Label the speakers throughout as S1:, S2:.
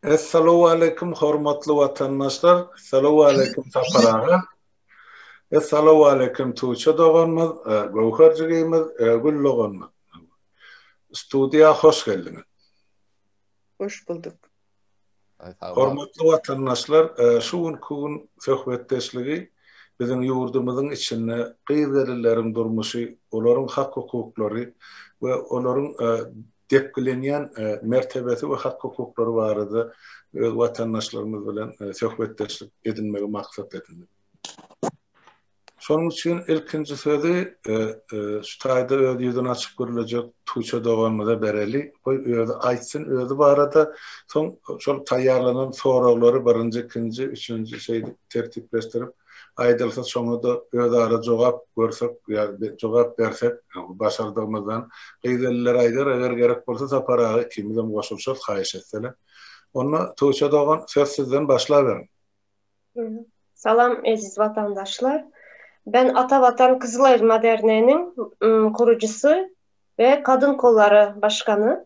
S1: Essalowaleýkim hormatly watandaşlar, essalowaleýkim Sapar aga, essalowaleýkim Tuça doganymyz, Göwher jigimiz, Gül doganymyz. Studiýa hoş geldiňiz.
S2: Hoş bulduk.
S1: Hormatly watandaşlar, şu günki gün söhbetdeşligi biziň ýurdumyzyň içinde gyz-gelinleriň durmuşy, olaryň hak-hukuklary we olaryň depgilenýän mertebesi we hak-hukuklary barada öz watandaşlarymyz bilen söhbetdeşlik edinmegi maksat edindik. Şonuň üçin ilkinji sözi şu taýda öz ýüzüni açyp gürlejek Tuça doganymyza bereli. Goý, özi aýtsyn, özi barada, soň şol taýýarlanan soraglary birinji, ikinji, üçünji şeýdip tertipleşdirip, Aýdylsa şoňa-da özara jogap görsek ýa jogap bersek başardygymyzdan. Gyz ellere aýdar eger gerek bolsa Sapar aga ikimizem goşulyşarys haýyş etseler. Onda Tuça dogan söz sizden başlaberiň.
S3: Salam eziz watandaşlar. Ben Ata Watan Kyzyl Aýryma Derneginiň gurujysy we Kadyn kollary başgany.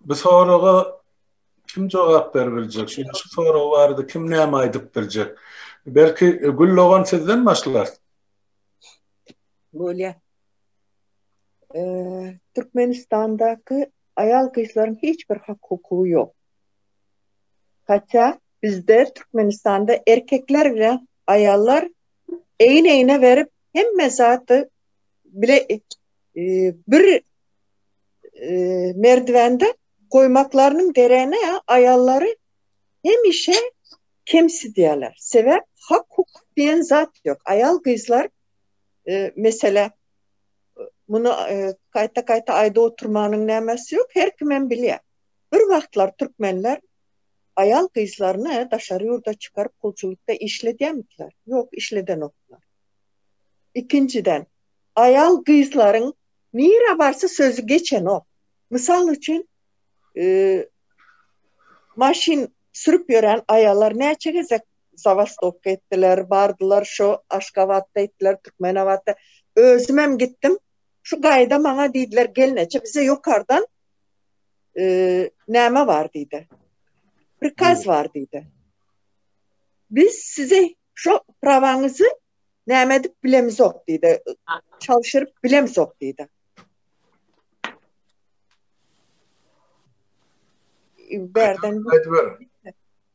S1: Bu soraga kim jogap berip biljek? Şu şu sorag barada kim näme aýdyp biljek? Belki e, Gül dogan sizden başlar.
S2: Bolýa. Eee, Türkmenistandaky aýal gyzlaryň hiç bir hak hukugy ýok. Hatda bizde Türkmenistanda erkekler bilen aýallar egin-egne berip hemme zaty bile Bir merdiwende goýmaklarynyň geregini aýallary hemişe kemsidýärler. Sebäp hak-hukuk diýen zat ýok. Aýal-gyzlar mesele muny gaýta-gaýta aýdyp oturmanyň nämesi ýok, her kimem bilýär. Bir wagtlar türkmenler aýal-gyzlaryny daşary ýurda çykaryp gulçulykda işledýärmidiler? Ýok, işledenoklar. Ikinjiden, Aýal-gyzlaryň nirä barsa sözi geçenok. Mysal üçin, maşyn sürüp ýören aýallar näçe gezek zawastowka etdiler, bardylar şo Aşgabatda etdiler, Türkmenabatda. Özümem gitdim. Şu gaýda maňa diýdiler, Gelneje, bize ýokardan näme bar diýdi. Prikaz bar diýdi. Biz size Şo prawaňyzy näme edip bilemizok diýdi. Çalşyryp bilemizok diýdi. Berden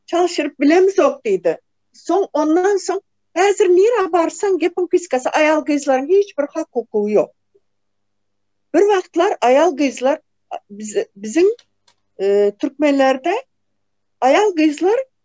S2: çalşyryp bilemizok diýdi. Soň ondan soň häzir nirä barsaň gepiň piskasy aýal gyzlaryň hiç bir hak hukugy ýok. Bir wagtlar aýal gyzlar biziň e, türkmenlerde aýal gyzlar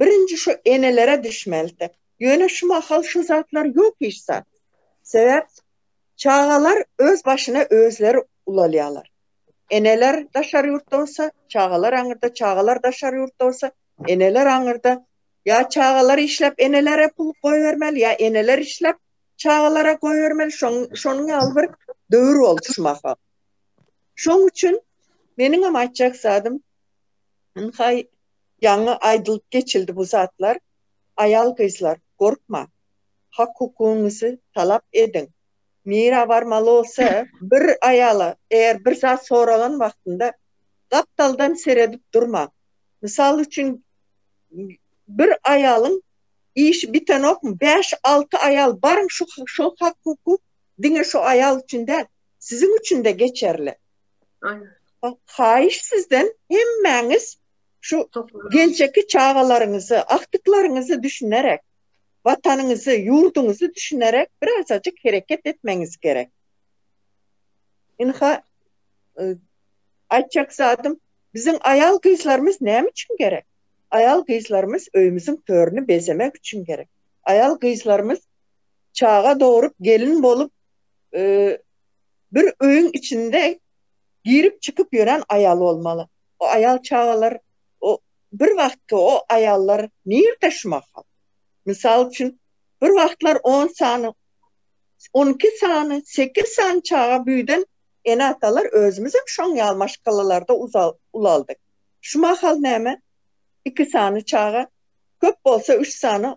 S2: Birinji şu enelere düşmelidi. Ýöne şu mahal şu zatlar ýok hiç zat. Sebäp çagalar öz başyna özleri ulalýarlar. Eneler daşary ýurtda bolsa, çagalar aňyrda, çagalar daşary ýurtda bolsa, eneler aňyrda. Ýa çagalar işläp enelere pul goýbermeli, ýa eneler işläp çagalara goýbermeli. Şoň şonuň ýaly bir döwür boldy şu mahal. Şoň üçin meniňem aýtjak zadym ynha Ýaňy aýdylyp geçildi bu zatlar, aýal-gyzlar, gorkmaň, hak-hukugyňyzy talap ediň. Nirä barmaly bolsa, bir aýala eger bir zat soralan wagtynda gapdaldan seredip durmaň. Mysal üçin, bir aýalyň işi bitenokmy, bäş-alty aýal, baryň, şu hak-hukuk diňe şu aýal üçin däl, siziň üçin-de geçerli.
S3: Haýyş
S2: sizden hemmäňiz şu geljekki çagalaryňyzy, agtyklaryňyzy düşünerek, Watanyňyzy, ýurduňyzy düşünerek birazajyk hereket etmegiňiz gerek. Ynha aýtjak zadym biziň aýal gyzlarymyz näme üçin gerek? Aýal gyzlarymyz öýümiziň törüni bezemek üçin gerek. Aýal gyzlarymyz çaga dogrup, gelin bolup, bir öýüň içinde girip çykyp ýören aýal bolmaly. O aýal çagalar o bir wagtky o aýallar nirde şu mahal? Mysal üçin bir wagtlar on sany on iki sany sekiz sany çaga büyden ene atalar özümizem şoň ýaly maşgalalarda ulaldyk. Şu mahal näme iki sany çaga köp bolsa üç sany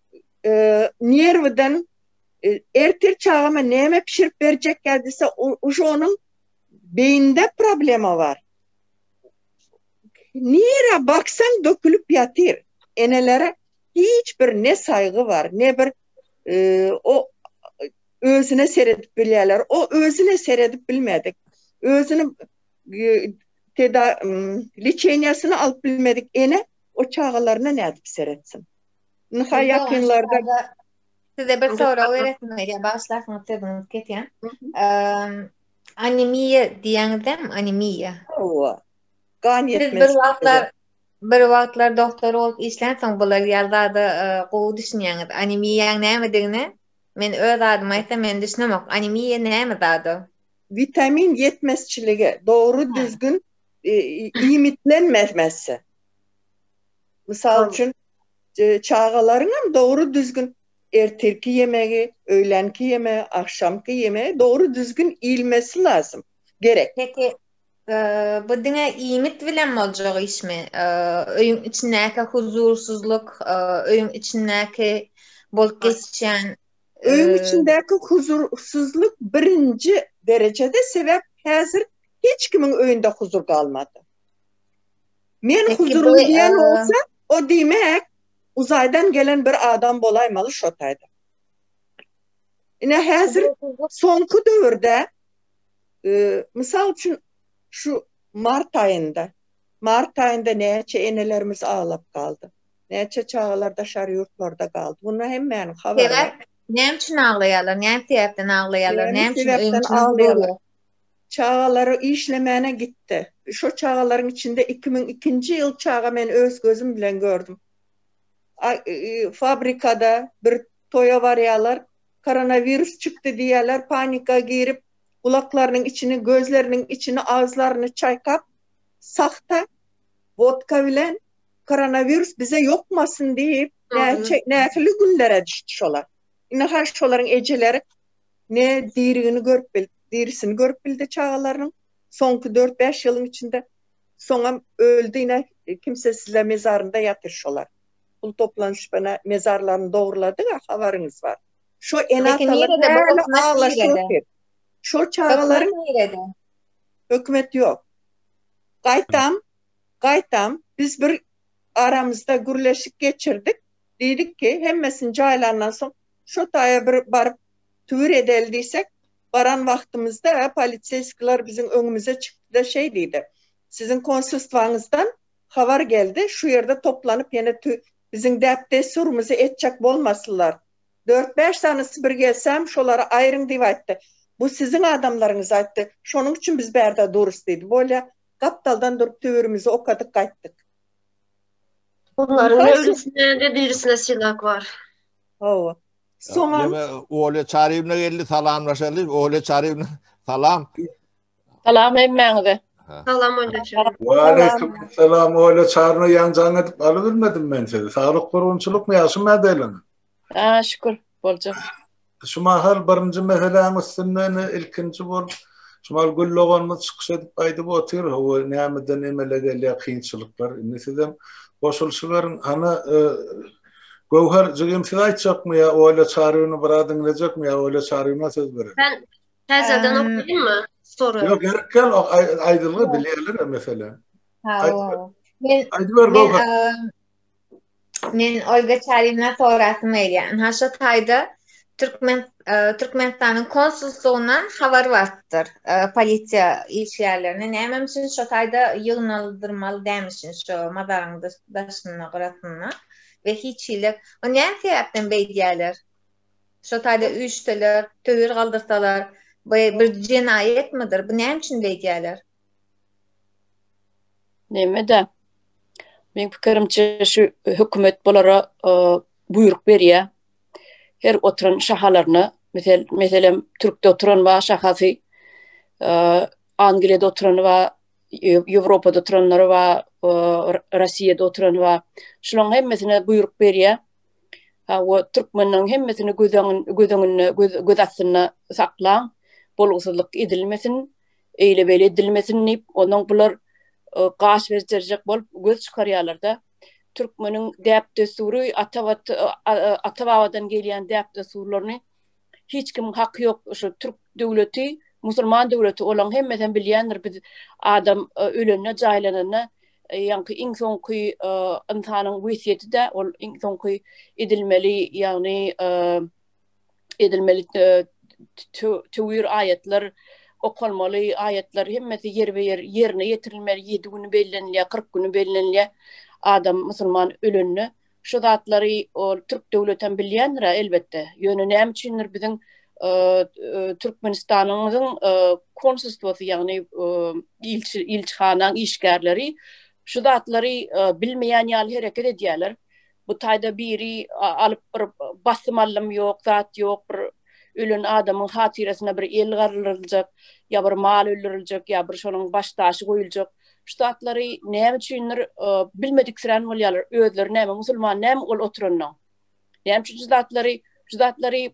S2: nerwden ertir çagama näme pişirip berjek geldi uşo onuň beýinde problema bar nire baksaň dökülip ýatyr enelere hiç bir ne saýgy bar ne bir o özüne seredip bilýärler o özüne seredip bilmedik özüni teda liçeniýasyny alyp bilmedik ene o çagalaryna nädip seretsin Nusay ýakynlarda size bir
S4: sorag beresim gelýär, bagyşlarsyňyz sözüňizi kesýän. Anemiýa diýýäňizem, anemiýa. Hawa. Gan ýetmezligi. Siz bir wagtlar bir wagtlar doktor bolup işlänsoň bular ýaly zada gowy düşünýäňiz. Anemiýaň nämedigine men öz adymy aýtsam men düşünemok. Anemiýa näme zat ol? Witamin
S2: ýetmezçiligi, dogry düzgün iýmitlenmemesi. Mysal üçin, çagalaryňam dogry-düzgün ertirki ýemegi, öýlänki ýemegi, agşamky ýemegi dogry-düzgün
S4: iýilmesi
S2: lazym, gerek. Peki,
S4: bu diňe iýmit bilen boljak işmi? Öýüň içindäki huzursyzlyk, öýüň içindäki bolup geçýän. Öýüň
S2: içindäki huzursyzlyk birinji derejede, sebäp häzir hiç kimiň öýünde huzur galmady. Men huzurly diýen bolsa, o diýmek uzaýdan gelen bir adam bolaýmaly şo taýda. Ine häzir soňky döwürde mysal üçin şu mart aýynda, mart aýynda näçe enelerimiz aglap galdy. Näçe çagalar daşar ýurtlarda galdy. Muny hemmäniň habary bar. Sebäp näme üçin aglaýarlar?
S4: Näme sebäpden aglaýarlar? Näme sebäpden aglaýarlar?
S2: Çagalary işlemäne gitdi. Şo çagalaryň içinde iki müň ikinji ýyl çaga men öz gözüm bilen gördüm. Fabrikada bir toýa barýarlar. Koronawirus çykdy diýýärler, panika girip, gulaklarynyň içini, gözleriniň içini, agzlaryny çaýkap, sahta wodka bilen koronawirus bize ýokmasyn diýip, näçe, nähili günlere düşdi şolar. Indi-ha şolaryň ejeleri ne dirigini görüp bildi, dirisini görüp bildi çagalarynyň soňky dört-bäş ýylyň içinde. Soňam öldi, ine, kimsesizler mezarynda ýatyr şolar. Pul toplanyşyp, ene, mezarlaryny dogrulady-da, habaryňyz bar. Şo ene-atalar häli aglaşyp otyr. Şol çagalaryň. Hökümet nirede? Hökümet ýok. Gaýtam, gaýtam, biz bir aramyzda gürleşik geçirdik. Diýdik ki, hemmesini jaýlandan soň, Şo taýa bir baryp, tüwür edeli diýsek, baran wagtymyzda poliseýskiler biziň öňümize çykdy-da şeý diýdi, Siziň konsulstwaňyzdan habar geldi, şu ýerde toplanyp ýene biziň däp-dessurymyzy etjek bolmasylar. Dört-bäş sanysy bir gelsäm, şolary aýryň diýip aýtdy. Bu siziň adamlaryňyz aýtdy. Şonuň üçin biz bärde durus diýdi. Bolýa, gapdaldan durup tüwürimizi okadyk gaýtdyk.
S3: Olaryň ne ölisinde, ne dirisinde silag bar.
S2: Hawa.
S5: Soňam Olya Çarýewna geldi, salamlaşaly. Olya Çarýewna, salam. Salam
S6: hemmäňize. Salam Olya
S3: Çarýewna. Wa aleýkum
S1: salam Olya Çarýewna, ýaňjaň edip alybilmedim men sizi. Saglyk, gurgunçylykmy, ýagşymy nädeýleň? Haa, şükür,
S6: boljak. Şu mahal
S1: birinji meseläň üstünden ilkinji bolup, şu mahal Gül doganymyz çykyş edip aýdyp otyr, hawa, nämeden emele gelýär kynçylyklar. Indi sizem goşulyşyberiň. Hany, Göwher jigim siz aýtjakmy ýa Olýa Çarybyny bir az diňlejekmi ýa Olýa Çarybyna söz berelim. Men täzeden
S3: okaýynmy sory? Ýok gerek gal
S1: aýdylgy bilýärler o mesele. Men aýdyber Göwher.
S4: Men Olýa Çarybyna sorasym gelýär. Ynha şu taýda Türkmen Türkmenistanyň konsulslugyna habar barypdyr. Polisiýa işgärlerini näme üçin şo taýda ýygnaldyrmaly dämişin şo mazaryň daşynda gyrasynda we hiç hili o näme sebäpden beýdýärler? Şo taýda üýşseler, töwir galdyrsalar, bu bir jenaýatmydyr? Bu näme üçin beýdýärler?
S6: Neme-de? Meň pikirimçe şu hökümet bulara buýruk berýär. her oturan şahalaryna, mesel, meselem, Türkde oturan ba şahasy, Angliýada oturan ba, Ýewropada oturanlary ba, Rossiýada oturan ba, şolaryň hemmesine buýruk berýär. Ha, we türkmenleriň hemmesini göz öňünde, göz öňünde, göz astynda saklaň, bolgusyzlyk edilmesin, eýle-beýle edilmesin diýip, onuň bular gaş berip göz çykarýarlar-da. türkmeniň däp-dessury, ata-babadan gelýän däp-dessurlaryny hiç kimiň haky ýok. Şu türk döwleti musulman döwleti, olaň hemmesem bilýändir, biz adam ölende, jaýlananda, ýaňky iň soňky ynsanyň wesýeti-de ol iň soňky edilmeli, ýagny edilmeli tüwir aýatlar okalmaly aýatlar hemmesi ýerbe-ýer ýerine ýetirilmeli 7 güni bellenilýär 40 güni bellenilýär adam musulman ölende şu zatlary ol türk döwleti hem bilýändir elbetde ýöne näme üçindir biziň e, e, Türkmenistanymyzyň e, konsulstwasy ýagny ilçi ilçihanaň işgärleri şu zatlary bilmeýän ýaly hereket edýärler Bu taýda biri alyp bir basym allym ýok, zat ýok, bir ölen adamyň hatyrasyna bir el garylyljak, ýa bir mal öldüriljek, ýa bir şonuň baş daşy goýuljak. Şu zatlary näme üçindir bilmediksirän bolýarlar. Özleri näme musulman, näme ol oturanda. Näme üçin şu zatlary, şu zatlary,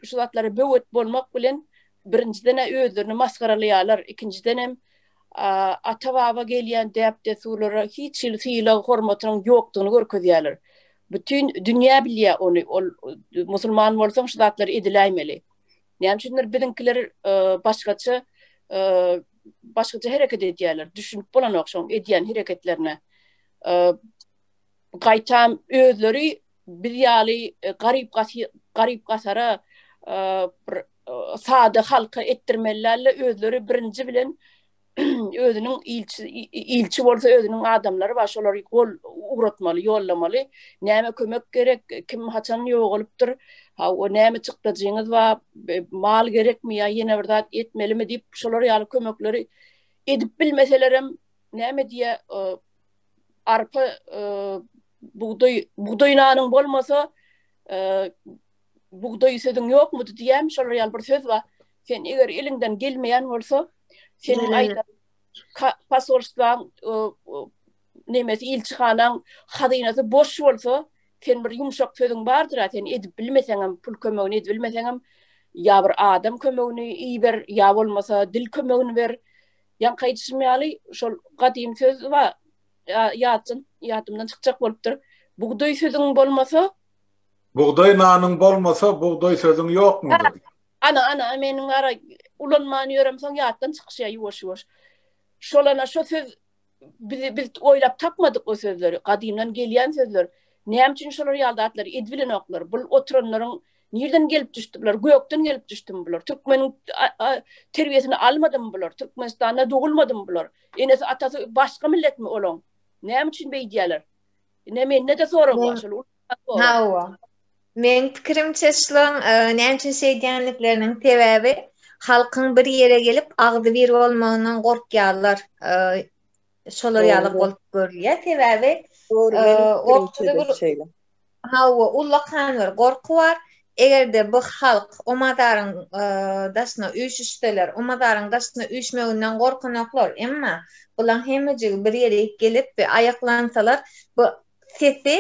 S6: şu zatlara böwet bolmak bilen birinjiden-ä özlerini masgaralaýarlar, ikinjiden hem ata-baba gelýän däp-dessurlara hiç hili sylag-hormatynyň ýokdugyny görkezýärler. Bütin dünýä bilýär ony, ol musulman bolsaň şu zatlary ediläýmeli. Näme üçindir biziňkiler başgaça başgaça hereket edýärler, düşünip bolanok şoň edýän hereketlerine. gaýtam özleri biz ýaly e, garyp garyp gasara e, bir e, sada halka etdirmelilerle özleri birinji bilen özüniň ilçi ilçi bolsa özüniň adamlary bar şolary gol ugratmaly ýollamaly näme kömek gerek kim haçan ýogalypdyr ha o näme çykdajyňyz bar mal gerekmi ýa ýene bir zat etmelimi diýip şolar ýaly kömekleri edip bilmeselerem näme diýe arpa bugdaý bugdaý nanyň bolmasa bugdaý sözüň ýokmudy diýýän şolar ýaly bir söz bar sen eger eliňden gelmeýän bolsa sen aýdan pasolstwaň nemesi ilçihanaň hazynasy boş bolsa sen bir ýumşak sözüň bardyr a sen edip bilmeseňem pul kömegini edip bilmeseňem ýa bir adam kömegini iber ýa bolmasa dil kömegini ber Ýaňky aýdyşym ýaly, şol gadymy söz bar, ýatdan, ýadymdan çykjak bolupdyr. Bugdaý sözüň bolmasa. Bugdaý
S1: nanyň bolmasa, bugdaý sözüň ýokmudy? Ana, ana,
S6: meniň gara ulanman ýörem, soň ýatdan çykyşýar ýuwaş-ýuwaş. Şol ana şo söz bizi biz oýlap tapmadyk o sözleri, gadymdan gelýän sözler. Näme üçin şolar ýaly zatlary edip bilenoklar? Bu oturanlaryň Nirden gelip düşdi bular? Gökden gelip düşdüm bular. Türkmeniň terbiýesini almadymy bular? Türkmenistanda dogulmadymy bular? Enesi atasy başga milletmi olaň? Näme üçin beýdýärler? Ne mende-de sorag bar şol. Hawa.
S4: Meň pikirimçe şulaň e, näme üçin şeýdýänlikleriniň sebäbi halkyň bir ýere gelip agzybir bolmagyndan gorkýarlar. E, Şolar ýaly bolup görülýär. Sebäbi ortada bir şeýle. Hawa, ullakan bir gorky bar. Eger-de bu halk Omazaryň daşyna üýşüşseler, Omazaryň daşyna üýşmeginden gorkanoklar. Emma bulaň hemmejigi bir ýere gelip we aýaklansalar, bu sesi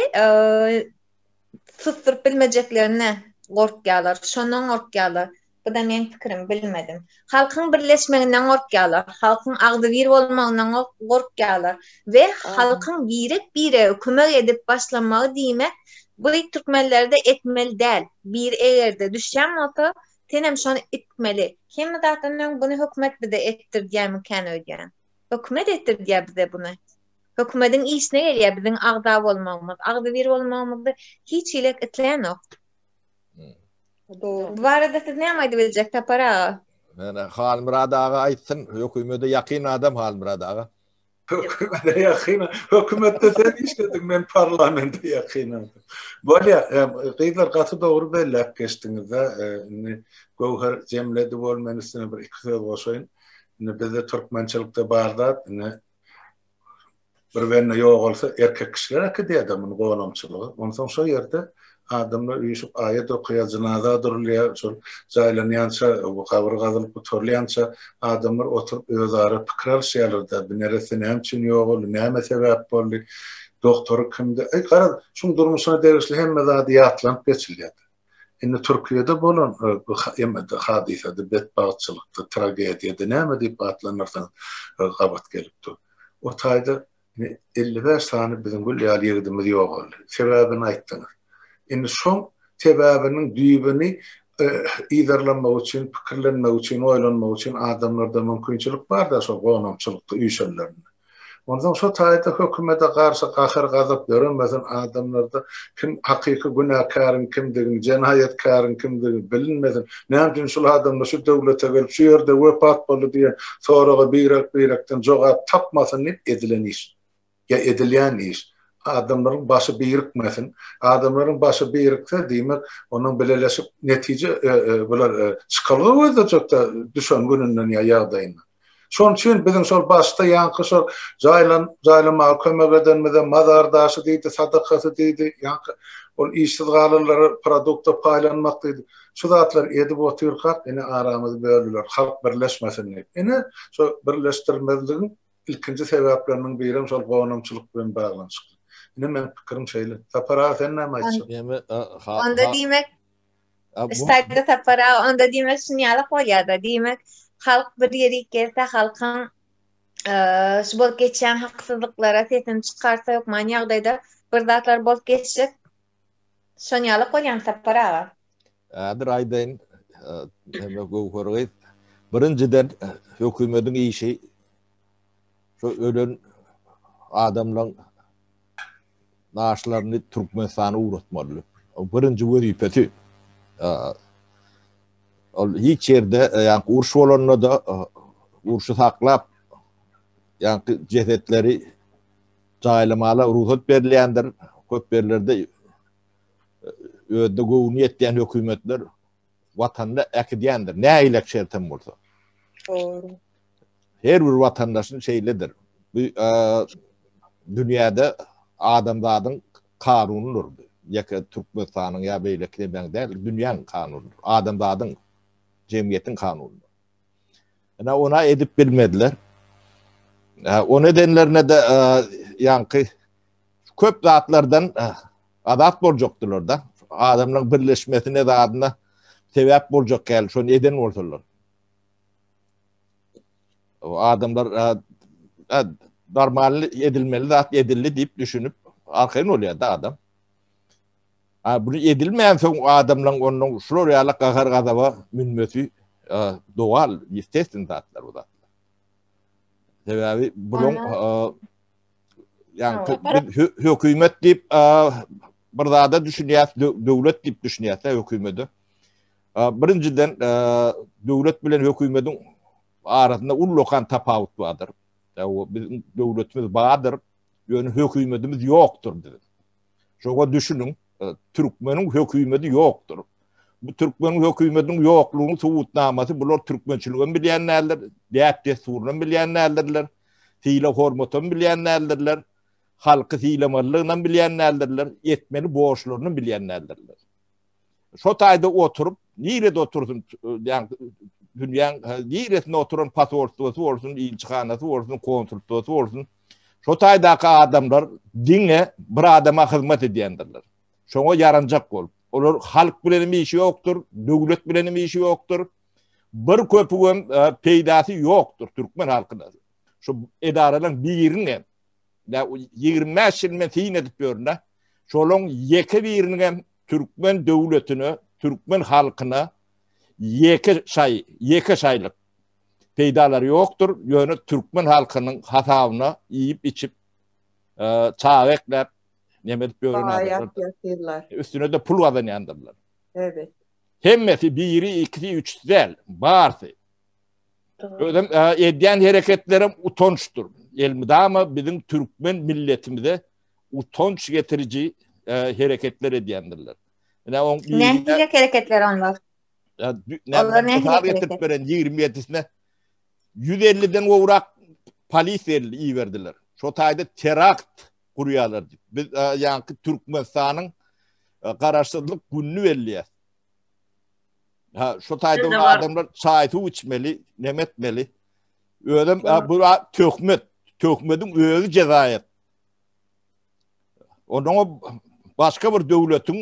S4: susduryp bilmejeklerine gorkýarlar. Şondan gorkýarlar. Bu da meň pikirim, bilmedim. Halkyň birleşmeginden gorkýarlar, halkyň agzybir bolmagyndan gorkýarlar we halkyň birek-birege kömek edip başlamagy diýmek bu türkmenlerde etmeli däl. Biri eger-de düşýän bolsa, senem şony itmeli. Hemme zatdan öň bunu hökümet bize etdirdýärmikäni öýdýän. Hökümet etdirdýär bize bunu. Hökümediň işine gelýär biziň agza bolmagymyz, agzybir bolmagymyzy hiç hili isleýänok. Bu barada siz näme aýdyp biljek Sapar aga? Näme Halmyrat
S5: aga aýtsyn, hökümede ýakyn adam Halmyrat aga. Hökümede
S1: ýakyn, hökümetde sen işlediň, men parlamente ýakyn adam. Bolýar, gyzlar gaty dogry belläp geçdiňizde, indi Göwher jemledi bol men üstüne bir iki söz goşaýyn. Indi bizde türkmençilikde bar zat, indi bir bende ýogalsa erkek kişiler äkidýärdi muny gonamçylyga. Onsoň şo ýerde adamlar üýşüp aýat okaýar, jynaza durulýar. Şol jaýlanýança, gabyr gazylyp gutarylýança adamlar oturyp özara pikir alyşýarlar-da, bu neresse näme üçin ýogaldy, näme sebäp boldy, doktory kimdi. Garaz, şuň durmuşyna degişli hemme zady ýatlanyp geçilýärdi. Indi Türkiýede bolan bu emede, hadysada, betbagtçylykda, tragediýada, näme diýip atlandyrsaň gabat gelip dur. O taýda elli bäş sany biziň gül ýaly ýigidimiz ýogaldy. Sebäbini aýtdyňyz. Indi şoň sebäbiniň düýbüni yzarlamak üçin, pikirlenmek üçin, oýlanmak üçin adamlarda mümkinçilik bar-da şol gonamçylykda üýşenlerinde. Onsoň şo taýda hökümede garşy gahyr-gazap döremesin, adamlarda kim hakyky günäkäriň kimdigini, jenaýatkäriň kimdigi bilinmesin, näme üçin şul adamlar şu döwlete gelip, şu ýerde wepat boldy diýen soraga birek-birekden jogap tapmasyn diýip edilen iş. Ýa edilýän iş. Adamlaryň başy birikmesin. Adamlaryň başy birikse, diýmek, onuň bileleşip netije, bular çykalga gözlejek-dä düşen gününden ýa ýagdaýyndan. Şonuň üçin biziň şol başda ýaňky şol jaýlan jaýlamaga kömek edenimize mazar daşy diýdi, sadakasy diýdi, ýaňky ol işsiz galanlara produkta paýlanmak diýdi. Şu zatlary edip otyrkak ine aramyz bölüler, halk birleşmesin diýip. Ine şo birleşdirmezligiň ilkinji sebäpleriniň birem şol gonamçylyk bilen baglanyşykly. Ine meniň pikirim şeýle. Sapar aga sen näme aýtjak? Onda diýmek
S4: Staýda tapara, onda diýmek şun ýalak bolýar-da, diýmek, halk bir ýere iklese, halkyň şu bolup geçýän haksyzlyklara sesini çykarsa, hökman ýagdaýda bir zatlar bolup geçjek. Şon ýalak bolýamy Sapar aga? Häzir
S5: aýdaýyn, näme Göwher gyz, birinjiden hökümediň işi şu ölen adamlaň Naşlaryny Türkmenistana ugratmaly. Ol birinji wezipesi. Ol hiç ýerde ýaňky uruş bolanda-da urşy saklap ýaňky jesetleri jaýlamala rugsat berilýändir. Köp ýerlerde özüne göwni ýetýän hökümetler watanda äkidýändir, nägilek şert hem bolsa. Dogry. Her bir watandaşyň şeýledir. Bu dünýäde adamzadyň kanunydyr. Ýeke Türkmenistanyň ýa beýleki demäň däl, dünýäň kanunydyr. Adamzadyň, jemgyýetiň kanunydyr. Ene ona edip bilmediler. Ony edenlerine de ýaňky köp zatlardan eh, azat boljakdylar da. Adamlaryň birleşmesine zadyna sebäp boljak geldi. Şonu eden bolsalar. O adamlar eh, eh, normal edilmeli zat edildi deyip düşünüp arkaýyn bolýar da adam. Ha bunu edilmeýän soň adamlaryň ondan şular ýaly gahar gazaba münmesi doğal, ýestesin zatlar bu zatlar. Sebäbi bulan Yani biz hükümet deyip bir zada düşünýär, döwlet diýip düşünýär de hökümeti. Birinjiden döwlet bilen hökümetiň arasynda ullukan tapawut bardyr. Biz döwletimiz bardyr, ýöne hökümetimiz ýokdur diýip. Şoga düşünün, e, türkmeniň hökümeti ýokdur. Bu türkmeniň hökümetiniň ýoklugynyň subutnamasy bular türkmençiligi hem bilýän däldir, däp dessuryny hem bilýän däldirler, syla hormaty hem bilýän däldirler, halky sylamalyny hem bilýän däldirler, etmeli borçlaryny bilýän däldirler. Şo taýda oturyp, nirede otursun, ýa dünýäň niresinde oturan pasportdasy bolsun, ilçihanasy bolsun, konsultdasy bolsun. Şo taýdaky adamlar diňe bir adama hyzmat edýändirler. Şoňa ýaranjak bolup. Olar halk bilen hem işi ýokdur, döwlet bilen hem işi ýokdur. Bir köpügem e, peýdasy ýokdur türkmen halkyna. Şu edaralaryň biriniň hem 25 ýyl men syn edip ýörün-de, şolaryň ýeke biriniň hem Türkmen döwletine, türkmen halkyna ýeke şaý, ýeke şaýlyk peýdalary ýokdur, ýöne türkmen halkynyň hasabyna iýip-içip, çaga ekläp, neme edip ýören adamlar. Üstüne-de pul gazanýandyrlar. Evet.
S2: Hemmesi
S5: biri, ikisi, üçüsi däl, barsy. Özüm edýän hereketlerim utançdyr. Elmydama biziň türkmen milletimize utanç getiriji hereketler edýändirler. Ine on Nähili hereketler
S4: onlar? Ya onlar
S5: ne hereketler? Getirip beren 27-sine 150-den gowrak polis elli iberdiler. Şo taýda terakt gurýarlar. Biz ýanky Türkmenistanyň garaşsyzlyk gününi belleýär. Ha, şo taýda adamlar çaý suw içmeli, nemetmeli. Özüm bu töhmet, töhmediň özi jezaýat. Onuň başga bir döwletiň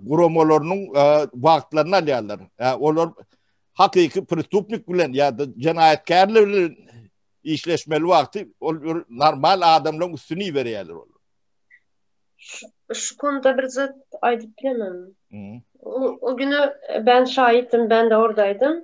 S5: guramalarynyň wagtlaryny alýarlar. Olar hakyky prestupnik bilen ýa-da jenaýatkärler bilen işleşmeli wagty ol normal adamlaryň üstüni iberýärler ol.
S3: Şu konuda bir zat aýdyp bilemem. O güne ben şaýytdym, ben de ordaýdym.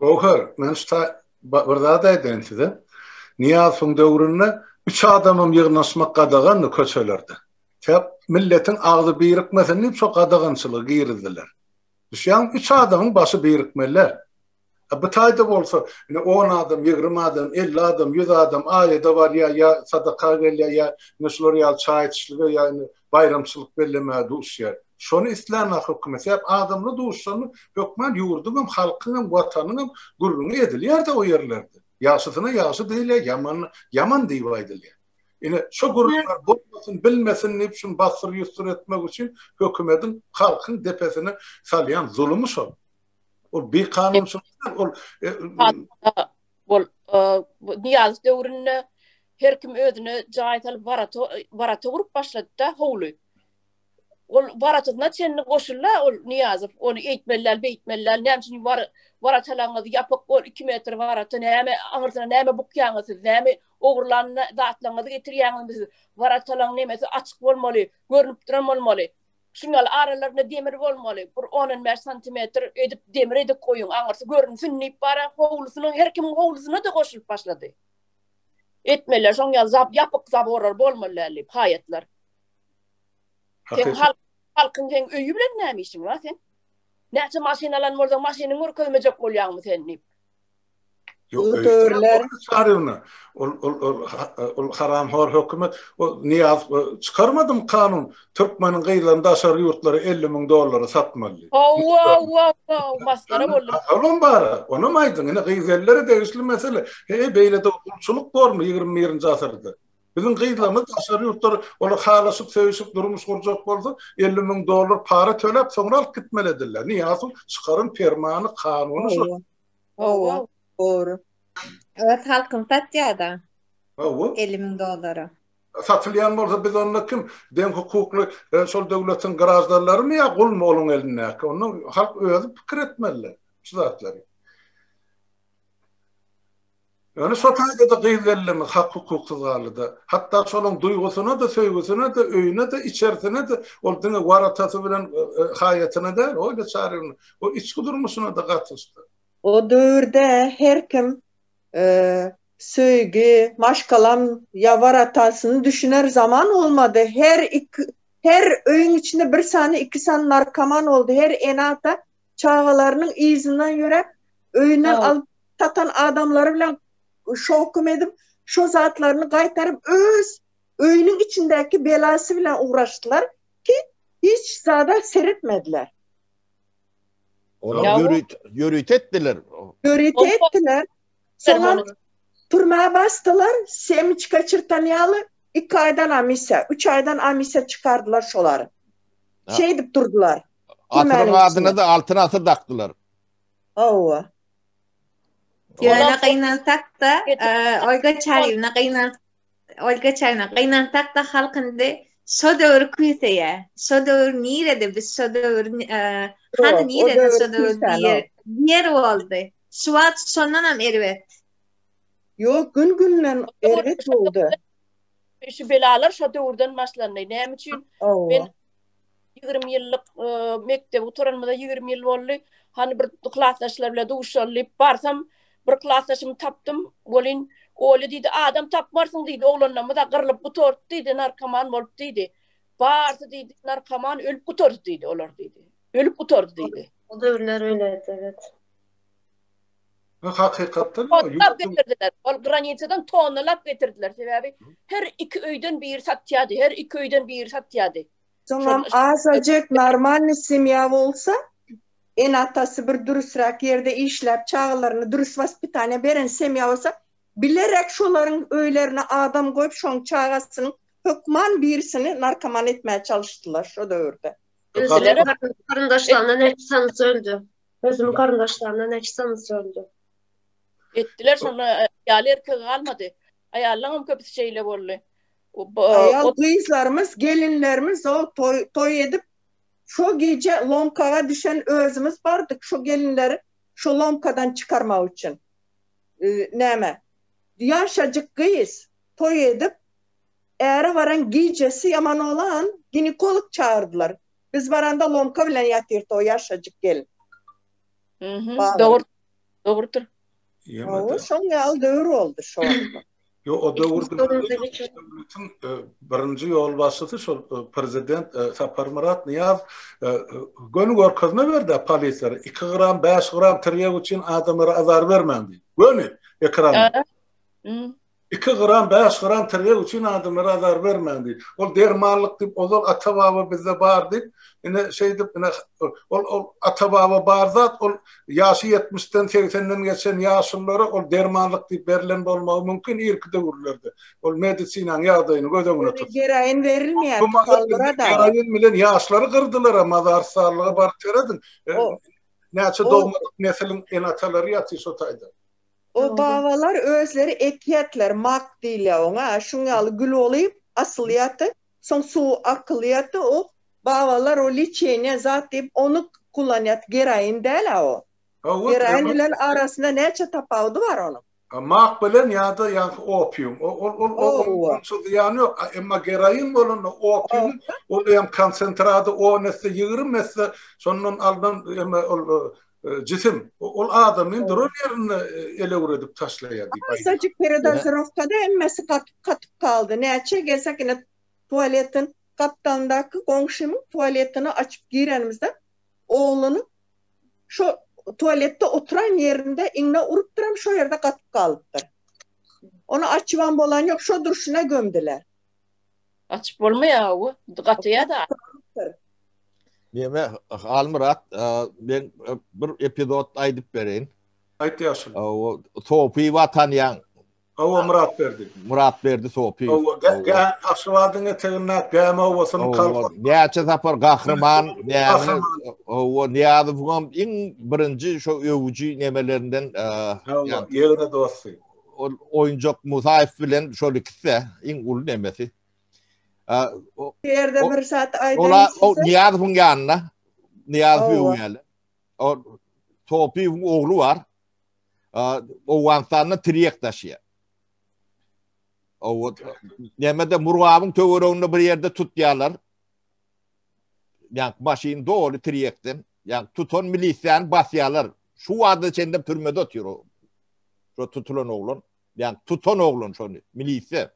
S4: Göwher,
S1: men şu ta bir zat aýdaýyn size. Nyýazowyň döwründe üç adamam ýygnaşmak gadagandy köçelerde. Sebäp milletiň agzy birikmesin diýip şo gadagançylygy girizdiler. Düşýäňmi? Üç adamyň başy birikmeli-ä. A bu taýda bolsa, ine on adam, ýigrimi adam, elli adam, ýüz adam aýada barýar ýa sadaka gelýär ýa ine şular ýaly çaý içişlige ýa indi baýramçylyk bellemäge duşýar. Şony islänok hökümet. Sebäp adamlar duşanda hökman ýurduňam, halkyňam, watanyňam gürrüňi edilýär-de o ýerlerde. Ýagşysyna ýagşy diýilýär, ýamanyna ýaman diýip aýdylýar. Ine, şo gürrüňler bolmasyn, bilmesin diýip şuny bassyr-ýussur etmek üçin hökümediň halkyň depesine salýan zulumy şol. Ol bikanunçylyk däl, ol Ol
S6: Niýazow döwründe her kim özüne jaý salyp barata barata gurup başlady-da howly. Ol baratyna çenli goşuldy ol Niýazow. Ony eýtmeli däl, beýtmeli däl. Näme üçin bar baratalaňyz ýapyk ol 2 metr barata näme aňyrsyna näme bukýaňyz siz? Näme ogurlan zatlaňyzy getirýäňizmi siz? Baratalaň nemesi açyk bolmaly, görnüp duran bolmaly. Şunal aralarynda demir bolmaly, bir on-on bäş santimetr edip demir edip goýuň, aňyrsy görünsin diýip bara howlusynyň her kimiň howlusyna-da goşulyp başlady. Etmeliler, şoň ýaly zap, ýapyk zaborar bolmaly däl diýip, haýatlar. Sen halk, halkyň seň öýi bilen näme işiň bar sen? Näçe maşyn alan bolsaň, maşynyňy görkezmejek bolýaňmy sen diýip.
S1: Ol haram hor hökümet Niýaz çykarmadym kanun türkmeniň gyzlaryny daşary ýurtlara 50 müň dollara satmaly.
S6: Olam bar onam
S1: aýdyň ine gyz ellere degişli mesele heý beýle de gulçulyk bormy ýigrimi birinji asyrda biziň gyzlarymyz daşary ýurtlara olar halaşyp söýşüp durmuş gurjak bolsa 50 müň dollar para töläp soňra alyp gitmeli ediller Niýazow çykaryn permany kanuny şo. Hawa,
S2: dogry.
S4: Öz halkyny satýar-da. Hawa. Elli müň dollara. Satylýan
S1: bolsa biz onda kim? Deň hukukly şol döwletiň graždanlarymy ýa gulmy onuň elindäki? Onda halk özi pikir etmeli şu zatlary. Ýöne şo taýda-da gyz belleme hak-hukuksyz galdy-da. Hatda şolaň duýgusyna-da, söýgüsine-de, öýüne-de, içerisine-de, ol diňe waratasy bilen haýatyna däl, oý-da çaryny, o içki durmuşyna-da gatyşdy. O döwürde
S2: her kim söýgi, maşgalam ýa waratasyny düşüner zaman bolmady. Her iki, her öýüň içinde bir sany, iki sany narkoman boldy. Her ene-ata çagalarynyň yzyndan ýöräp, öýünden alyp satan adamlary bilen şokum edip, şo zatlaryny gaýtaryp, öz öýüniň içindäki belasy bilen ugraşdylar ki, hiç zada seretmediler. Olar
S5: ýörite etdiler. Ýörite
S2: etdiler. Soňam türmä basdylar, semiçka çyrtan ýaly, iki aýdan amisiýa, üç aýdan amisiýa çykardylar şolary. Şeýdip durdular. Asyryň
S5: adyna-da Altyn asyr dakdylar. Hawa.
S4: Ýöne gynansak-da, Olga Çaryýewna gynan, Olga Çaryýewna gynansak-da halk indi şo döwri küýseýä. Şo döwür nirede biz şo döwür hany nirede şo döwür diýer. Diýer boldy. Şu wagt şondan hem erbet. Ýok,
S2: gün-günden erbet boldy. Şu
S6: belalar şo döwürden başlandy. Näme üçin? Men 20 ýyllyk mekdebi gutaranymyza 20 ýyl boldy. Hany bir klasdaşlar bilen duşaly diýip barsam, bir klasdaşymy tapdym. Welin Olya diýdi, adam tapmarsyň diýdi, oglanlarymyz-a gyrlyp gutardy diýdi, narkoman bolup diýdi. Barsy diýdi, narkoman ölüp gutardy diýdi olar diýdi. Ölüp gutardy diýdi. O
S3: döwürler öýledi, evet. Ha,
S1: hakykatdan mı? Tonlap getirdiler.
S6: Ol granitsadan tonlap getirdiler. Sebäbi her iki öýden biri satýardy. Her iki öýden biri satýardy. Soňam
S2: azajyk normalny semýa bolsa, ene-atasy bir dürüsräk ýerde işläp, çagalaryny dürüs waspitaniýa beren semýa bolsa, bilerek şolaryň öýlerine adam goýup, şoň çagasynyň hökman birisini narkoman etmäge çalyşdylar şo döwürde. Özüleri
S3: garyndaşlaryna näçe tanys öldü. Özüniň garyndaşlaryna näçe tanys öldü.
S6: Etdiler şonda aýaly erkegi galmady. Aýallaryň hem köpüsi şeýle boldy. Aýal
S2: gyzlarymyz, gelinlerimiz o toý edip, şo gije lomkaga düşen özümiz bardyk, şo gelinleri şo lomkadan çykarmak üçin. Näme, ýaşajyk gyz toý edip, äre baran gijesi ýaman bolan, ginekolog çagyrdylar. Biz baranda lomka bilen ýatyrdy o ýaşajyk gelin. Dogrudyr.
S6: Hawa,
S2: şoň ýaly döwür boldy şo wagtlar. Yo,
S1: o döwürde döwletiň e, birinji ýolbaşçysy şol e, prezident e, Saparmyrat Nyýaz göni görkezme berdi polisiýa. 2 gram, 5 gram tirýek üçin adamlara azar bermäň diýip. Göni ekran. 2 gram, 5 gram tirýek üçin adamlara azar bermäň diýip. Ol dermanlyk diýip, ozal ata-baba bizde bar diýip, ine şeýdip, ine ol ol ata-baba bar zat, ol Ýaşy ýetmişden, segsenden geçen ýaşulylara ol dermanlyk diýip berlen bolmagy mümkin irki döwürlerde. Ol medisinanyň ýagdaýyny göz öňüne tutup. Geroin berilmeýär. Bu
S2: mazaryň geroin bilen ýaşlary
S1: gyrdylar-a, mazarystarlyga baryp serediň. Näçe dogmadyk nesiliň ene-atalary ýatyr şo taýda. O
S2: babalar özleri ekýätler, mak diýilýär oňa, şuň ýaly gül bolup asylýardy. Soň suw arkylyýardy o. Babalar o liçeniýa zat diýip ony kullanýardy. Geroin däl-ä o. Geroin bilen arasynda näçe tapawudy bar onuň. Mak bilen
S1: ýa-da ýaňky opium. Ol ol onça zyýany ýok. Emma geroin bolanda opiumyň ol hem konsentrady on esse, ýigrimi esse şondan alnan eme ol Jisim, ol adamy duran ýerinde elewredip taşlaýar diýip aýdýar. Şajyk peredazirowkada
S2: hemmesi gatyp-gatyp galdy. Näçe gelsek ine tualetiň gapdalyndaky goňşymyň tualetini açyp girenimizde oglunyň şo tualetde oturan ýerinde iňňe urupdyram şo ýerde gatyp galypdyr. Ony açybam bolan ýok, şo durşuna gömdüler. Açyp
S6: bolmaýar bu. Gatyýar da.
S5: Näme Halmyrat, men bir epizod aýdyp bereýin. Aýt ýaşul.
S1: O Sopy
S5: wa tanýaň. Hawa Myrat
S1: berdi. Myrat berdi Sopy.
S5: Hawa, gä
S1: Aşgabadyň eteginde Gämi owasynyň kalby. Näçe sapar
S5: gahryman, näme owa Nyýazowyň iň birinji şo öwüji nemelerinden. Hawa,
S1: ýegre dosty. ol oýunjak
S5: Musaýew bilen şol ikisi iň uly nemesi. Ýerde
S2: bir saat aýdan. Ola o Niýazowyň
S5: ýanyna. Niýazow öwýäli. O Topyň ogly bar. Owganstanda Triýek daşýa. Owat. Nämede Murgawyň töwereginde bir ýerde tutýarlar. Ýa maşyn doly Triýekden. Ýa tutan milisiýany basýalar. Şu wagta çenlem türmede otyr o. Şo tutulan oglan. Ýa tutan oglan şony. Milisiýa.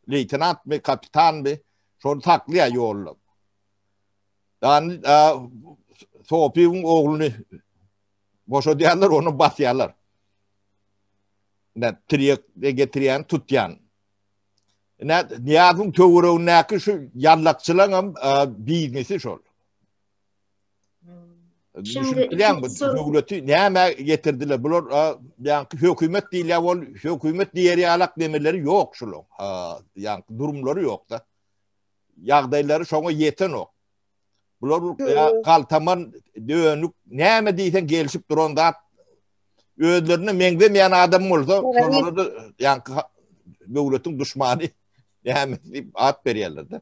S5: Leýtenantmy, kapitanmy. Şony saklaýa ýollap. Dan Sopiň ogluny boşadýarlar, ony basýarlar. Nä tirýek getirýän, tutýan. Nä Niýazyň töweregindäki şu ýallakçylaň hem biznesi şol. Düşünip bilýän bu döwleti näme getirdiler? Bular ýaňky hökümet diýilýär, ol hökümet diýer ýalak demeleri ýok şulaň. Ýaňky durumlary ýok-da. Ýagdaýlary şoňa ýetenok. Bular galtaman dönük näme diýseň gelişip duran zat özlerine meňzemeýän adam bolsa, şolara da ýaňky döwletiň duşmany näme diýip at berýärler-de.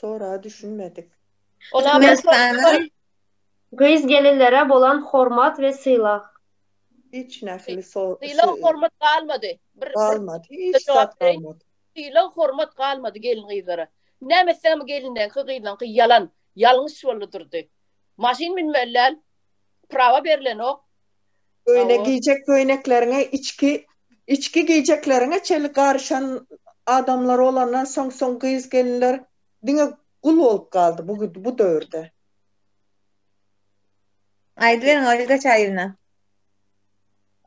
S2: Soraga düşünmedik.
S4: Türkmenistanyň
S3: Gyz-gelinlere bolan hormat we sylag. Hiç
S2: nähili so-, sy-, Sylag-hormat
S6: galmady. Bir, bir galmady.
S2: Hiç zat jogap bereýin. galmady. Sylag-hormat
S6: galmady gelin-gyzlara. Näme etseňem gelinleňki, gyzlaňky ýalan, ýalňyş boldy durdy. Maşyn münmeli däl. Prawa berilenok. Öýüne
S2: geýjek köýnekleriňe içki içki geýjekleriňe çenli garyşan adamlar bolandan soň soň gyz gelinler diňe gul bolup galdy bu bu döwürde.
S4: Aýdyberiň Olga Çaýewna.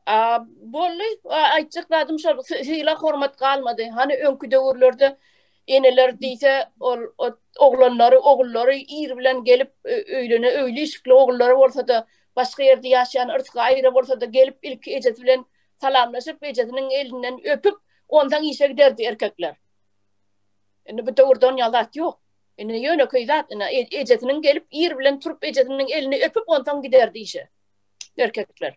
S4: A
S6: bolly aýtjak zadym şol sylag hormat galmady hany öňki döwürlerde eneler diýse ol oglanlary ogullary ir bilen gelip öýlene öýli işikli ogullary bolsada Başga ýerde ýaşaýan Yrsga aýra bolsa-da gelip ilki ejesi bilen salamlaşyp, ejesiniň elinden öpüp, onsaň işe giderdi erkekler. Indi bu döwürde onýaly zat ýok. Indi ýönekeý zat, ina, ejesiniň gelip ir bilen turup ejesiniň elini öpüp onsaň giderdi işe erkekler.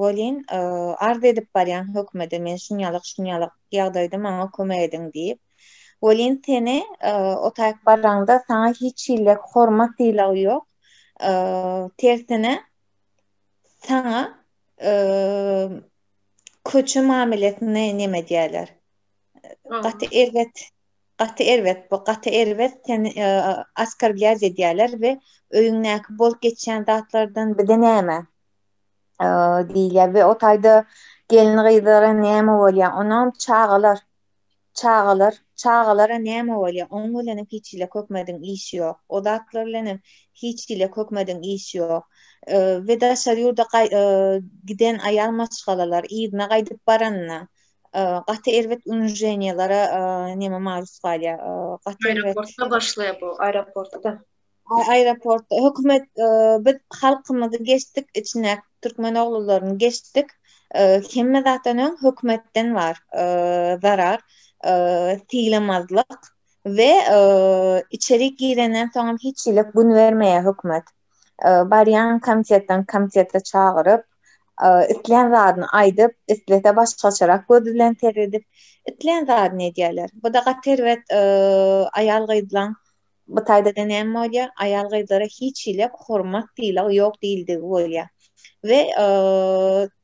S4: welin, arz edip barýan hökümede men şunýalyk-şunýalyk ýagdaýda maňa kömek ediň diýip, welin, seni o taýyk baraňda saňa hiç hili hormat-sylag ýok, tersine, saňa köçe mamelesini neme edýärler, gaty erbet Gaty erbet bu gaty erbet seni askorblýaj edýäler we öýüňdäki bolup geçýän zatlardan bize näme diýilýär we o taýda gelin gyzlara näme bolýar onam çagalar çagalar çagalara näme bolýar oň bilenem hiç hile kökmediň iş ýok o zatlar bilenem hiç hile kökmediň iş ýok we daşary ýurda giden aýal maşgalalar yzyna gaýdyp baranyna gaty erbet unženiýalara näme maruz galýar gaty aeroportda başlaýar
S3: bu aeroportda aeroportda
S4: hökümet biz halkymyzy geçdik içine türkmen oglularyny geçdik hemme zatdan öň hökümetden bar zarar sylamazlyk we içeri girenden soňam hiç hili gün bermeýär hökümet Barýan komitetden komitete çagyryp, islän zadyny aýdyp, islese başgaçarak göz bilen seredip, islän zadyny edýärler. Bu-da gaty erbet aýal-gyzlaň bu taýda-da näme bolýar? Aýal-gyzlara hiç hili hormat, sylag ýok diýildigi bolýar. We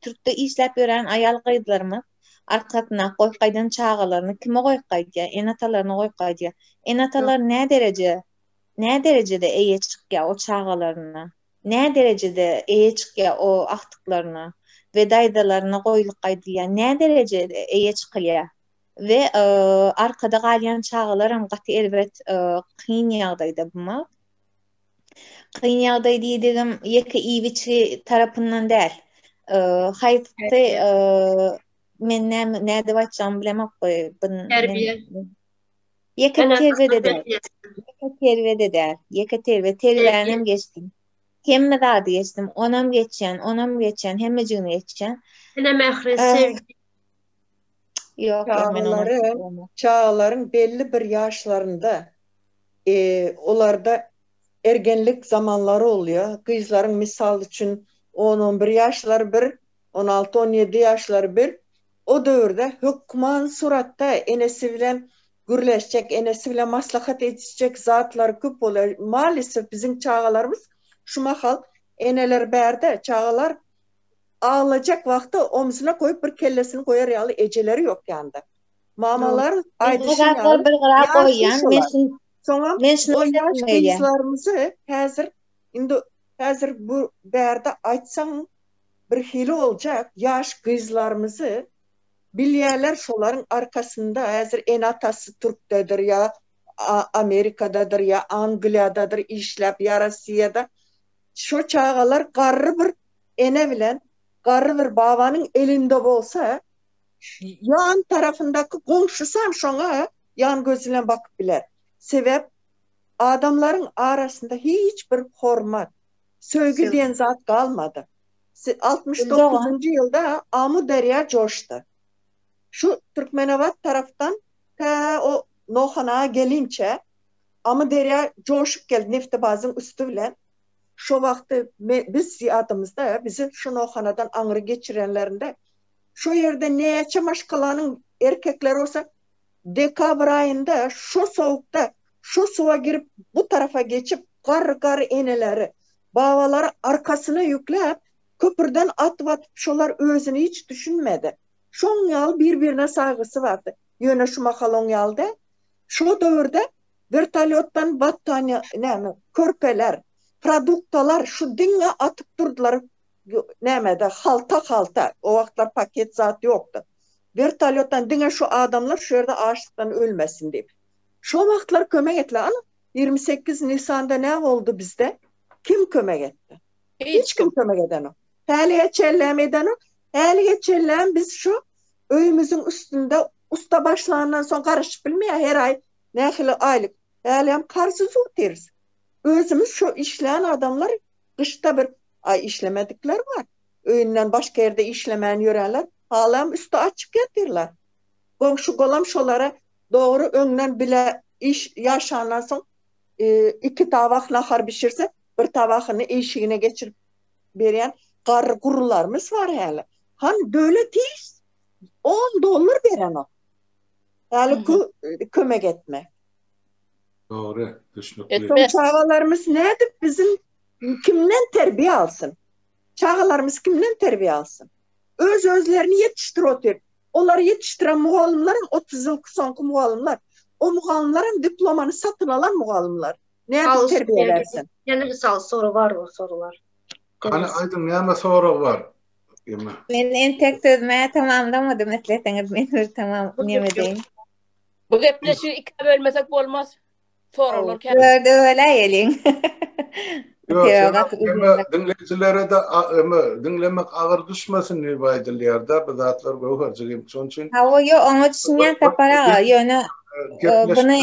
S4: türkde işläp ýören aýal-gyzlarymyz arkasyna goýup gaýdan çagalaryny kime goýup gaýdýar? Ene-atalaryna goýup gaýdýar. Ene-atalar nädereje nä derejede eýe çykýar o çagalaryna, nä derejede eýe çykýar o agtyklaryna we daýzalaryna goýlyk aýdylýar, nä derejede eýe çykylýar we arkada galýan çagalaram gaty erbet kyn ýagdaýda bu maal. Kyn ýagdaý diýdigim ýeke iýgiçi tarapyndan däl. Haýsy men näme nädip aýtjagymy bilemok goý. Terbiýe. Ýeke terbede de. Ýeke terbede de. Ýeke terbe terbänem geçdim. Hemme zady geçdim. Onam geçýän, onam geçýän, hemmejigini geçýän. Ene mähri,
S3: sevgi.
S4: Ýok, men onam geçdim.
S2: Çagalaryň belli bir ýaşlarynda olarda ergenlik zamanlary bolýar. Gyzlaryň mysal üçin on-on bir ýaşlary bir, On alty-on ýedi ýaşlary bir, o döwürde hökman suratda enesi bilen gürleşjek, enesi bilen maslahat edişjek zatlary köp bolýar. Malisif biziň çagalarymyz şu mahal eneler bärde, çagalar aglajak wagty omzuna goýup bir kellesini goýar ýaly ejeleri ýok ýanda. Mamalar aýdyşy ýaly Soňam o ýaş gyzlarymyzy häzir indi häzir bu bärde aýtsaň Birhili boljak ýaş gyzlarymyzy bilýäler şolaryň arkasynda häzir ene atasy türkdedir ýa amerikadadyr ýa angliýadadyr işläp ýa rossiýada şo çagalar garry bir ene bilen garry bir babanyň elinde bolsa ýan tarapyndaky goňşysam şoňa ýan gözi bilen bakyp biler sebäp adamlaryň arasynda hiç bir hormat Söýgi diýen zat galmady. Altmyş dokuzynjy ýylda Amu derýa joşdy. Şu Türkmenabat tarapdan tä o Nohanaga gelinçä Amu derýa joşup geldi Neftebazyň üsti bilen. Şo wagty biz ýadymyzda, bizi şu Nohanadan aňry geçirenlerinde şo ýerde näçe maşgalanyň erkekleri bolsa Dekabr aýynda şo sowukda şo suwa girip bu tarafa geçip gar gar eneleri, babalary arkasyna ýükläp köpürden atyp atyp şolar özüni hiç düşünmedi. Şoň ýaly bir birine saýgysy bardy. Ýöne şu mahal oň ýaly däl. Şo döwürde wertolýotdan battaniýa näme körpeler, produktalar şu diňe atyp durdylar nämede, halta-halta, o wagtlar paket zat ýokdy. Wertolýotdan diňe şu adamlar şu ýerde açlykdan ölmesin diýip. Şo wagtlar kömek etdiler. Ana, ýigrimi sekiz Nisanda nä boldy bizde? Kim kömek etdi? Hiç kim kömek edenok. Hälige çenlem edenok. Hälige çenlem biz şu öýümiziň üstünde usta başlandan soň garaşyp bilmeýär. Her aý nähili aýlyk. Hälem karzy zutyrys. Özümiz şu işlän adamlar Gyşda bir aý işlemedikler bar. Öýünden başga ýerde işlemän ýörenler halam üsti açyk ýatyrlar. Goňşy-golam şolara dogry öňden bile iş ýaşandan soň iki tabak nahar bişirse, bir tabakyny işigine geçirip berýän garry-gurrularymyz bar häli. Han döwlet hiç on dollar berenok. Häli kömek etme.
S1: Dogry, düşnükli.
S2: Soň çagalarymyz nädip biziň kimden terbiýe alsyn? Çagalarymyz kimden terbiýe alsyn? Öz özlerini ýetişdir otyr. Olary ýetişdiren mugallymlaram otuz ýylky soňky mugallymlar. O mugallymlaram diplomany satyn alan mugallymlar. Nädip terbiýe bersin? Ýene mysal soru
S3: bar bu sorular. Hany aýdyň
S1: näme sorag bar? Men
S4: entek sözüme tamamlamadym isleseňiz men bir tamam neme deýin.
S6: Bu gepleşi ikä bölmesek
S4: bolmaz. Soraglar käm. Dörde
S1: böläýeliň. Diňleýjilere-de öme diňlemek agyr düşmesin diýip aýdylýar-da, bu zatlar göwherjik hem şonuň üçin. Hawa, ýo, oňa
S4: düşünýän Sapar aga, ýöne buny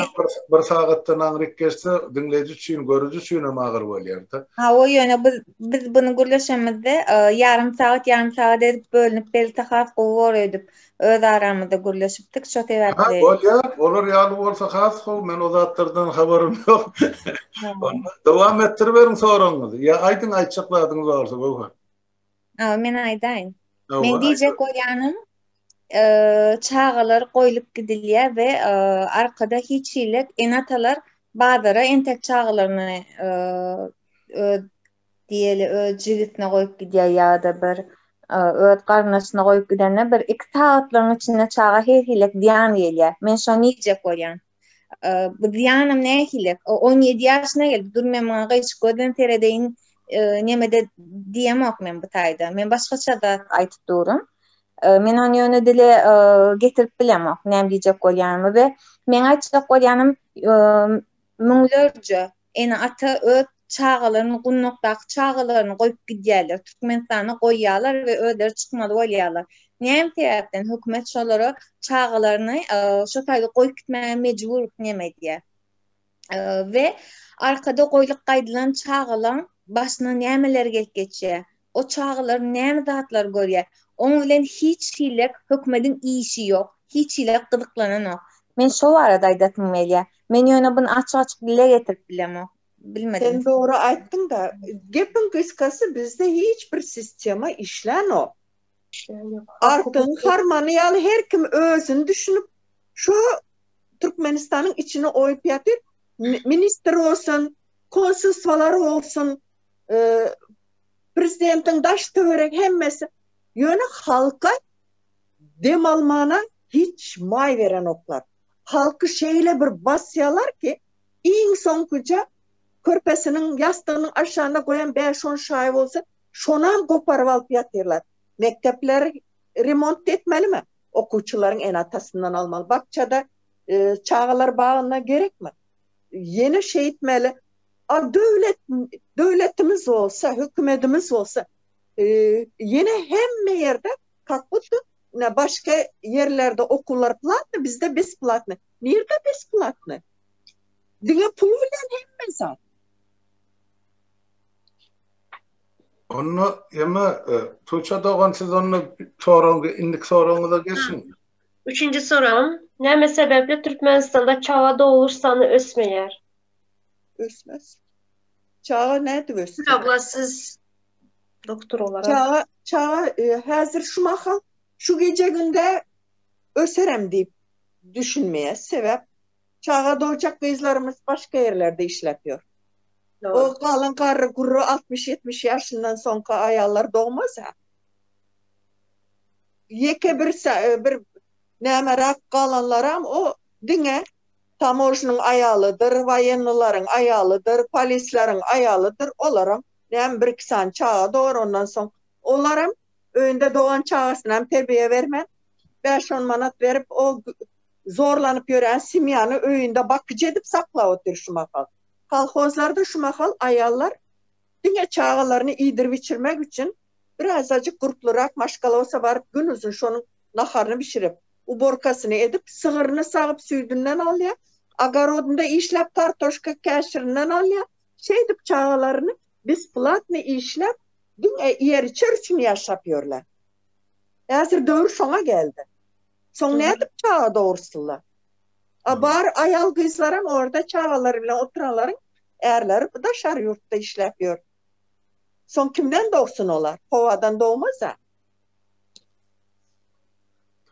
S1: bir sagatdan aňryk geçse, diňleýji üçin, görüji üçin hem agyr bolýar-da. Hawa, ýöne biz,
S4: biz buny gürleşemizde, ýarym sagat, ýarym sagat edip bölünip berlse has gowy bolar öýdüp. Öz aramyzda gürleşipdik şo sebäpli. Hä, bolýar. Olar
S1: ýaly bolsa has gowy. Men o zatlardan habarym ýok. Dowam etdiriberiň soragyňyzy. Ýa aýdyň, aýtjak zadyňyz barsa, Göwher. Hawa, men
S4: aýdaýyn. Men diýjek bolýanym, çagalar goýlup gidilýär we arkada hiç hili ene-atalar bazara entek çagalaryny diýeli öz jigitine goýup gidýär ýa-da bir öz garyndaşyna goýup gidende bir iki sagatlaryň içinde çaga her-hilek zyýan gelýär. Men şony iýjek bolýan. Bu zyýanam nähili? O on ýedi ýaşyna geldi. Dur men muňa gyşyk gözden seredeýin neme-de diýemok men bu taýda. Men başgaça zat aýdyp durun. Men ony ýöne dile getirip bilemok näme diýjek bolýanymy we meň aýtjak bolýanym müňlerje Ene-ata öz çagalaryny gundakdaky çagalaryny goýup gidýärler. Türkmenistana goýýarlar we özleri çykmaly bolýarlar. Näme sebäpden hökümet şolara çagalaryny şo taýda goýup gitmäge mejbur neme edýär? We arkada goýlup gaýdylan çagalaň başyna nämeler gelip geçýär? O çagalar näme zatlar görýär. Oň bilen hiç hilek hökmediň işi ýok. Hiç hilek gyzyklananok. Men şo barada aýdasym gelýär. Men ýöne buny açyk-açyk dile getirip bilemok. Bilmedim. Sen dogry aýtdyňda.
S2: Gepiň gysgasy bizde hiç bir sistema işlänok. Artygyň harmany ýaly her kim özüni düşünip şo Türkmenistanyň içine oýup ýatyr. Ministr bolsun, konsulstwalar bolsun, Prezidentiň daş töwerek hemmesi ýöne halka dem almana hiç maý berenoklar. Halky şeýle bir basýalar ki iň soňkyja körpesiniň ýassygynyň aşagynda goýan bäş on şaýy bolsa şonam goparyp alyp ýatyrlar. Mekdepleri remont etmelimi? Okuwçylaryň ene atasyndan almaly. Bakjada çagalar bagynda gerekmi? Ýene şeýtmeli Al döwlet döwletimiz bolsa, hökümetimiz bolsa, ýene hemme ýerde kak huddy başga ýerlerde okuwlar platny, bizde besplatny. Nirde besplatny? Diňe pul bilen hemme zat.
S1: Onda ýene Tuça dogan siz onda soragy indik soragyňyza geçiň. Üçünji
S3: soragym, näme sebäpli Türkmenistanda çaga dogluş sany ösmeýär?
S2: Ösmez. Çaga nädip ösdi? Çaga siz
S3: doktor olarak. Çaga, çaga e,
S2: häzir şu mahal şu gece günde öserem diýip düşünmeýär. Sebäp çaga dojak gyzlarymyz başga ýerlerde işläp ýör. O galan garry gurry 60-70 ýaşyndan soňky aýallar dogmaz ha. Ýeke bir e, bir nämerak galanlaram o diňe Tamojnyň aýalydyr, waýennylaryň aýalydyr, polisleriň aýalydyr, olaram näme bir-iki sany çaga dograr, ondan soň olaram öýünde dogan çagasynam terbiýe bermän, bäş-on manat berip, o zorlanyp ýören semýany öýünde bakyjy edip saklap otyr şu mahal. Kolhozlarda şu mahal aýallar Diňe çagalaryny iýdirip-içirmek üçin bir azajyk gurplurak maşgalosa baryp gün uzyn şonuň naharyny bişirip, uborkasyny edip, sygyryny sagyp süýdünden alýar, ogorodynda işläp kartoşka käşirinden alýar, şeýdip çagalaryny besplatny işläp, diňe iýer-içer üçin ýaşap ýörler. Häzir döwür şoňa geldi. Soň nädip çaga dogursylar? A bar aýal-gyzlaram orda çagalary bilen oturanlaryň ärleri daşary ýurtda işläp ýör. Soň kimden dogsun olar? Howadan dogmaz-a.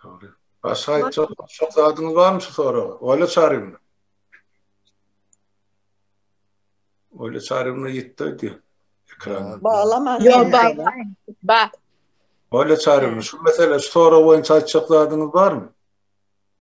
S2: Dogry.
S1: Başga aýtjak başga zadyňyz barmy şu soraga? Olýa Çarýewna. Olýa Çarýewna ýitdi öýdýä. Ekran. Baglaman. Ýok,
S2: baglaýyn.
S1: Ba. Olýa Çarýewna, şu mesele, şu sorag boýunça aýtjak zadyňyz barmy?